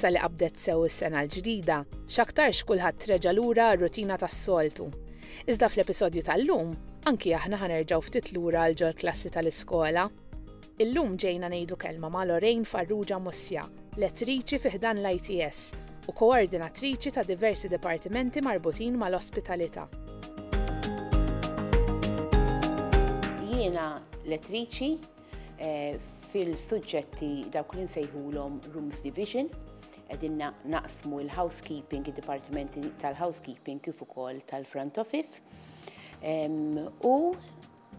Issa li qabdet sew is-sena l-ġdida, x'aktarx kulħadd reġa' lura r-rutina tas-soltu. Iżda fl-episodju tal-lum, anki aħna ħanerġgħu ftit lura għal ġol-klassi tal-iskola. Illum ġejna ngħidu kelma ma' Lorraine Farrugia Muscia, Lettriċi fi ħdan l-ITS u Koordinatriċi ta' diversi Dipartimenti marbutin mal-Ospitalità. Jiena Lettriċi fil-suġġetti dawk li nsejħulhom Rooms Division, qegħdin naqsmu l-Housekeeping, id-Dipartimenti tal-Housekeeping kif ukoll tal-Front Office. U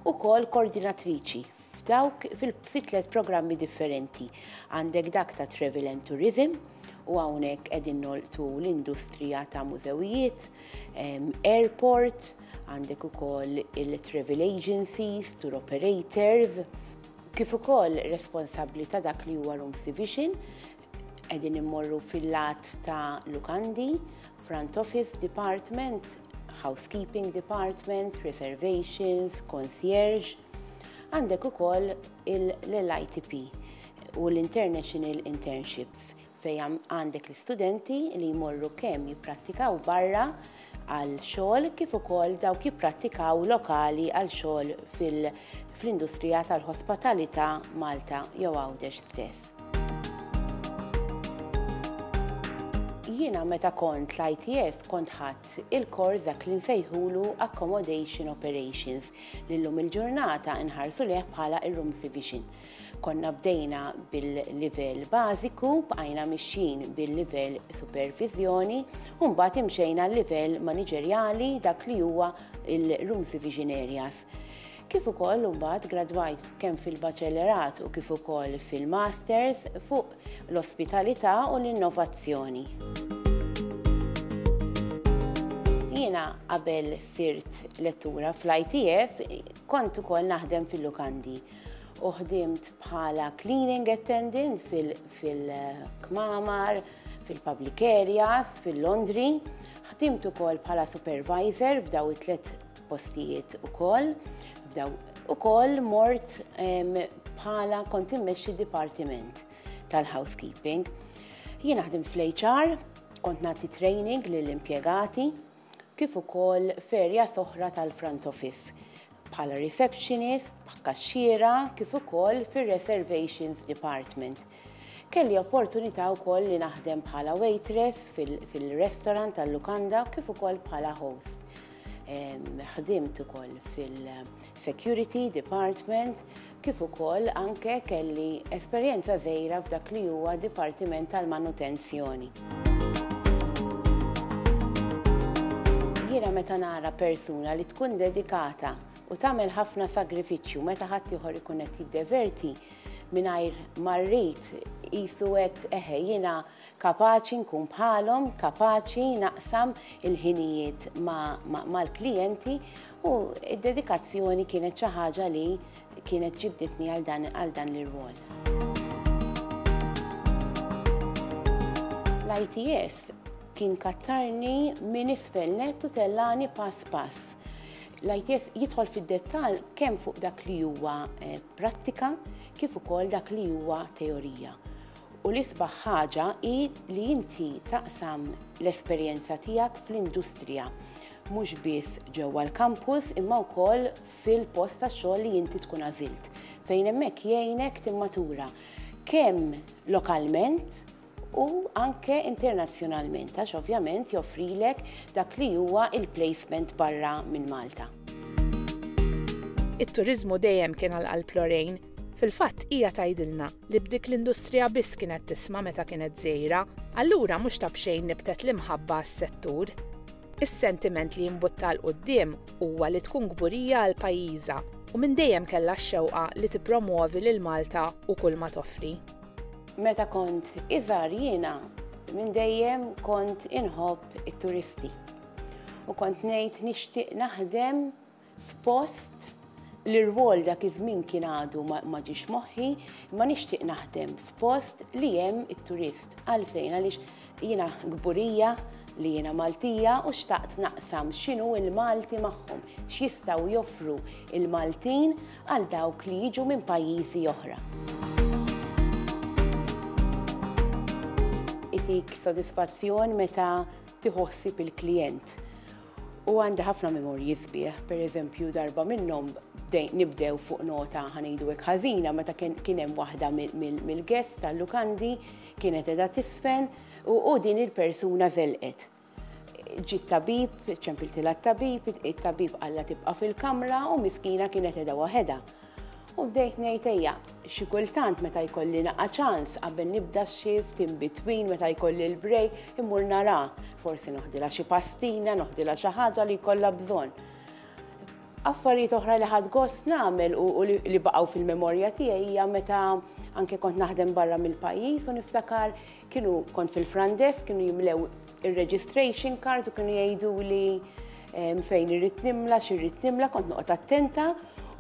ukoll koordinatriċi f'dawk fi tliet programmi differenti. Għandek dak ta' Travel and Tourism, u hawnhekk qegħdin nolqtu l-industrija ta' mużewijiet, airport, għandek ukoll il-travel agencies, tour operators, kif ukoll responsabbli ta' dak li huwa room division, qegħdin immorru fil-lat ta' lukandi, Front Office Department, Housekeeping Department, Reservations, Concierge. Għandek ukoll l-ITP u l-International Internships fej għandek l-studenti li jmorru kemm jipprattikaw barra għal xogħol kif ukoll dawk jipprattikaw lokali għal xogħol fil-industrija tal-hospitalità Malta jew Għawdex stess. Jiena meta kont l-ITS kont ħadd il-kors dak li nsejħulu Accommodation Operations li llum il-ġurnata nħarsu leh bħala ir-Rooms Division. Konna bdejna bil-livell bażiku, bqajna mixjin bil-livell supervizjoni, u mbagħad imxejna l-livell maniġerjali dak li huwa il-Rooms Division Areas. kif ukoll imbagħad gradwajt kemm fil-baċellerat u kif ukoll fil-masters fuq l-ospitalità u l-innovazzjoni. Jiena qabel sirt lettura fl-ITS kont ukoll naħdem fil-lukandi u ħdimt bħala cleaning attendant fil-kmamar, fil-public areas, fil-laundry. Ħdimt ukoll bħala supervisor f'daw it-tlet postijiet ukoll, f'daw ukoll mort bħala kont immexxi dipartiment tal-housekeeping. Jien naħdem fl-HR, kont nagħti training lill-impjegati kif ukoll ferja soħra tal-front office bħala receptionist, bħakkaxxiera, kif ukoll fir-reservations department. Kelli opportunità wkoll li naħdem bħala waitress fil-restaurant tal-lukanda kif ukoll bħala host. Ħdimt ukoll fil-Security Department kif ukoll anke kelli esperjenza żgħira f'dak li huwa Dipartiment tal-Manutenzjoni. Jiena meta nara persuna li tkun dedikata u tagħmel ħafna sagrifiċċju meta ħadd ieħor ikun qed jiddeverti mingħajr marrit qisu qed eħe jiena Kapaċi nkun bħalhom, kapaċi naqsam il-ħinijiet mal-klijenti u d-dedikazzjoni kienet xi ħaġa li kienet ġibditni għal dan l-irwol. L-ITS kien kattarni minn isfel nett u tellani pass pass. L-ITS jidħol fid-dettall kemm fuq dak li huwa prattika kif ukoll dak li huwa teorija. U l-isbaħ ħaġa hi li inti taqsam l-esperjenza tiegħek fl-industrija, mhux biss ġewwa l-kampus imma wkoll fil-post tax-xogħol li inti tkun għażilt, fejn hemmhekk jgħinek timmatura kemm lokalment u anke internazzjonalment għax ovvjament joffrilek dak li huwa l-placement barra minn Malta. It-turiżmu dejjem kien għal qalb Lorraine. Fil-fatt hija tgħidilna li b'dik l-industrija biss kienet tisma' meta kienet żgħira, allura mhux ta' b'xejn nibtet l-imħabba għas-settur. Is-sentiment li jimbutta 'l quddiem huwa li tkun kburija għal pajjiżha u minn dejjem kellha x-xewqa li tippromwovi lil Malta u kulma toffri. Meta kont iżgħar jiena minn dejjem kont inħobb it-turisti u kont ngħid nixtieq naħdem f'post li r-rwol dak iż-żmien kien għadu ma ġiex moħħi, imma nixtieq naħdem f'post li hemm it-turist. Għalfejn? Għaliex jiena kburija li jiena Maltija u xtaqt naqsam x'inhu l-Malti magħhom, x'jistgħu joffru l-Maltin għal dawk li jiġu minn pajjiżi oħra. Itik sodisfazzjon meta tieħu ħsieb il-klijent U għandi ħafna memorji sbieħ, per eżempju darba minnhom nibdew fuq nota ħanejdu hekk ħażina meta kien hemm waħda mill-guest tal-lukandi kienet edha tisfen u din il-persuna żelqet. Ġiet tabib, ċempiltilha t-tabib, it-tabib qalla tibqa' fil-kamra u miskina kienet edha waħedha. U bdejt ngħid ejja, xi kultant meta jkolli naqa' ċans qabel nibda x-shift, in between meta jkolli l-break, immur naraha, forsi noħdilha xi pastina, noħdilha xi ħaġa li jkollha bżonn. Affarijiet oħra li ħadt gost nagħmel u li baqgħu fil-memorja tiegħi hija meta anke kont naħdem barra mill-pajjiż u niftakar kienu kont fil-front desk kienu jimlew ir-registration card u kienu jgħiduli ehm, fejn irrid nimla, x'irrid nimla, kont noqgħod attenta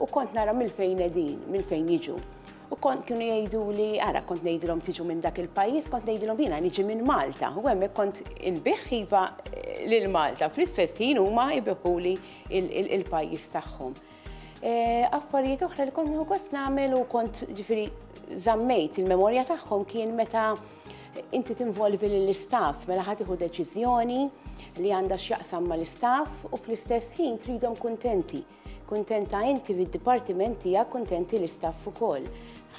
u kont nara mill-fejn edin, mill-fejn jiġu. U kont kienu jgħidu li, ara, kont ngħidilhom tiġu minn dak il-pajjiż, kont ngħidilhom jiena niġi minn Malta. U hemmhekk kont inbiħ iva eh, lil Malta. Fl-istess ħin huma jbiħuli il-pajjiż tagħhom. Affarijiet oħra li kont gost nagħmel u kont ġifieri żammejt il-memorja tagħhom kien meta inti tinvolvi lill-istaff mela ħadd iħu deċiżjoni li għandha x'jaqsam mal-istaff u fl-istess ħin tridhom kuntenti. Kuntenta inti fid-dipartiment tiegħek kuntenti l-istaff ukoll.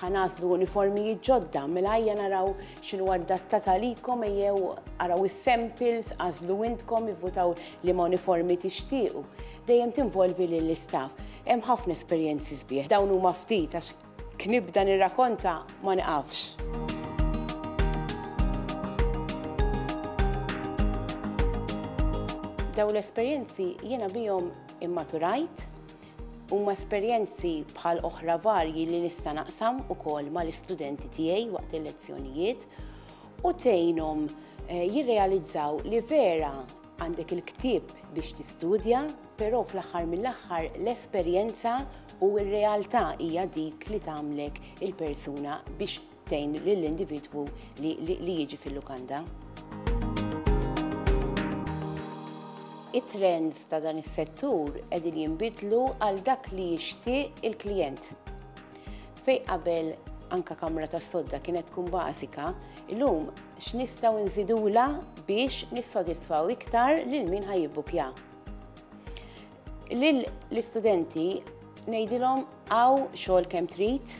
Ħanaslu uniformijiet ġodda mela ejja naraw x'inhu adatta talikom ejjew araw is-samples, għażlu intkom ivvutaw li ma uniformi tixtiequ. Dejjem tinvolvi lill-istaff. Hemm ħafna esperjenzi sbieħ. Dawn huma ftit għax kif nibda nirrakonta ma niqafx. Dawn l-esperjenzi jiena bihom immaturajt, huma esperjenzi bħal oħra varji li nista' naqsam ukoll mal-istudenti tiegħi waqt il-lezzjonijiet u tgħinhom eh, jirrealizzaw li vera Għandek il-ktieb biex tistudja, però fl-aħħar mill-aħħar l-esperjenza u r-realtà hija dik li tagħmlek il-persuna biex tgħin lill-individwu li jiġi fil-lukanda. it-trends ta' dan is-settur qegħdin jinbidlu għal dak li jixtieq il-klijent. Fej qabel anka kamra tas-sodda kienet tkun bażika, illum X'nistgħu nżidulha biex nissodisfaw iktar lil min ħa jibbukkja? Lil l-istudenti ngħidilhom hawn xogħol kemm trid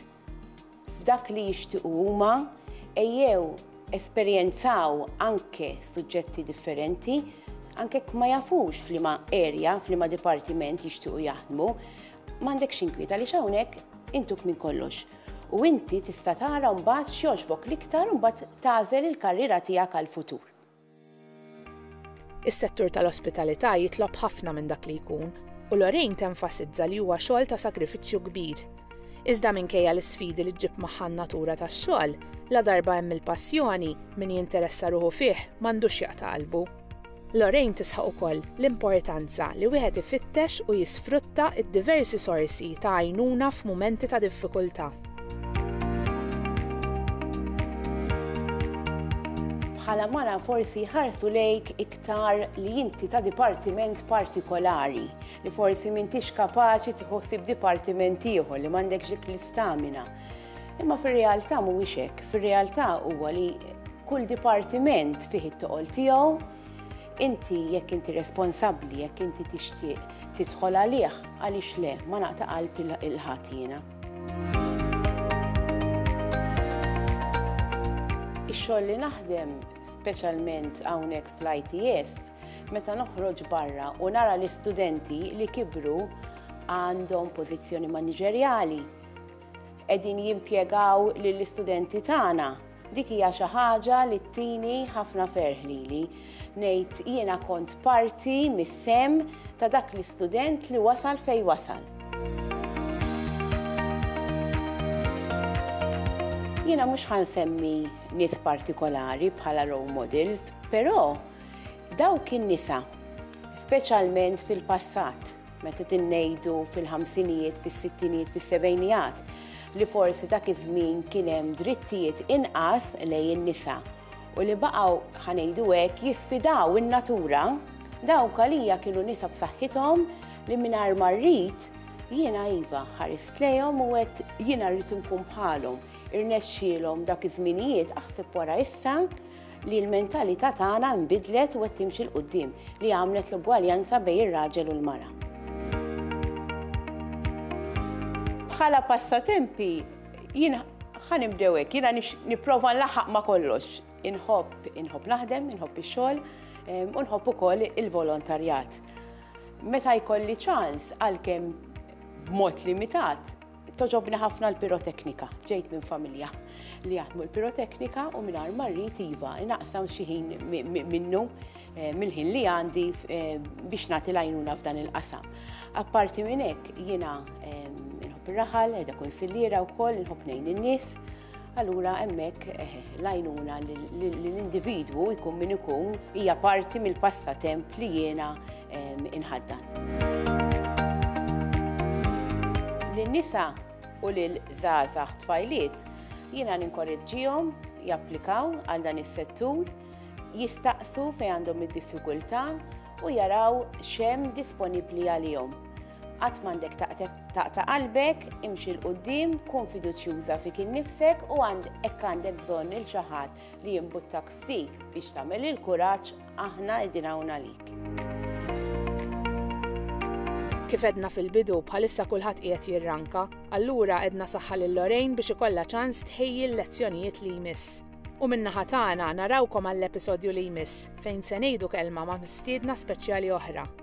f'dak li jixtiequ huma ejjew esperjenzaw anke suġġetti differenti anke ma jafux f'liema erja, f'liema dipartiment jixtiequ jaħdmu, m'għandekx inkwiet għaliex hawnhekk intuk minn kollox. u inti tista' tara mbagħad x'jogħġbok l-iktar u mbagħad tagħżel il-karriera tiegħek għall-futur. Is-settur tal-ospitalità jitlob ħafna minn dak li jkun, u Lorraine tenfasizza li huwa xogħol ta' sagrifiċċju kbir. Iżda minkejja l-isfidi li ġġib magħha n-natura tax-xogħol, la darba hemm il-passjoni, min jinteressa ruħu fih m'għandux jaqta' qalbu. Lorraine tisħaq ukoll l-importanza li wieħed ifittex u jisfrutta d-diversi sorsi ta' għajnuna f'mumenti ta' diffikultà. Bħala mara forsi jħarsu lejk iktar li inti ta' dipartiment partikolari, li forsi m'intix kapaċi tieħu ħsieb dipartiment ieħor, li m'għandekx dik l-istamina. Imma fir-realtà mhuwiex hekk, fir-realtà huwa li kull dipartiment fih it-toqol tiegħu, inti jekk inti responsabbli, jekk inti tixtieq tidħol għalih, għaliex le, ma naqta' qalb il-ħadd jiena. Ix-xogħol li naħdem, speċjalment hawnhekk fl-ITS, meta noħroġ barra u nara l-istudenti li kibru għandhom pożizzjoni maniġerjali, qegħdin jimpjegaw lill-istudenti tagħna, dik hija xi ħaġa li ttini ħafna ferħ lili. Ngħid jiena kont parti mis-sehem ta' dak l-istudent li wasal fejn wasal. Jiena mhux ħa nsemmi nies partikolari bħala role models, però dawk in-nisa, speċjalment fil-passat, Meta qegħdin ngħidu fil-ħamsinijiet, fis-sittinijiet, fis-sebgħinijat li forsi dak iż-żmien kien hemm drittijiet inqas lejn in-nisa u li baqgħu, ħa ngħidu hekk, jisfidaw in-natura, dawk għalija kienu nisa b'saħħithom li mingħajr ma rrid, jiena iva, ħarist lejhom u għedt jiena rrid inkun bħalhom. Irnexxielhom dak iż-żminijiet, aħseb wara issa, li l-mentalità tagħna nbidlet u qed timxi 'l quddiem, li għamlet l-ugwaljanza bejn ir-raġel u l-mara. Bħala passatempi, jien ħa nibdew hekk, jiena nipprova nlaħħaq ma' kollox. Inħobb, inħobb naħdem, inħobb ix-xogħol, u nħobb ukoll il-volontarjat. Meta jkolli ċans għalkemm b'mod limitat, Togħġobni ħafna l-piroteknika. Ġejt minn familja li jaħdmu l-piroteknika u mingħajr ma rrid iva naqsam xi ħin minnu eh, mill-ħin li għandi eh, biex nagħti lajnuna f'dan il-qasam. Apparti minn hekk jiena eh, nħobb ir-raħal, qiegħda kunsilliera wkoll nħobb ngħin in-nies allura hemmhekk eh, l-għajnuna l-individwu jkun min ikun hija parti mill-passatemp li jiena ehm, inħaddan. Lin-nisa u lil żgħażagħ tfajliet jiena ninkoreġġihom japplikaw għal dan is-settur, jistaqsu fejn għandhom id-diffikultà u jaraw xem disponibbli għalihom. Qatt m'għandek taqta' qalbek, imxi 'l quddiem, kun fiduċjuża fik innifsek u hekk għandek bżonn lil xi ħadd li jimbuttak f'dik biex tagħmel il-kuraġġ aħna qegħdin hawn għalik. Kif għedna fil-bidu, bħalissa kulħadd qiegħed jirranka, allura għedna saħħa lil Lorraine biex ikollha ċans tħejji l-lezzjonijiet li jmiss. U minna ħatana narawkom għall-episodju li jmiss fejn se ngħidu kelma ma' mistiedna speċjali oħra.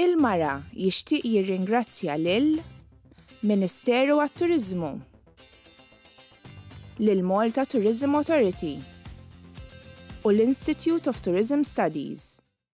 Il-Mara jixtieq jirringrazzja lil Ministeru għat-Turiżmu, lil Malta Tourism Authority u l-Institute of Tourism Studies.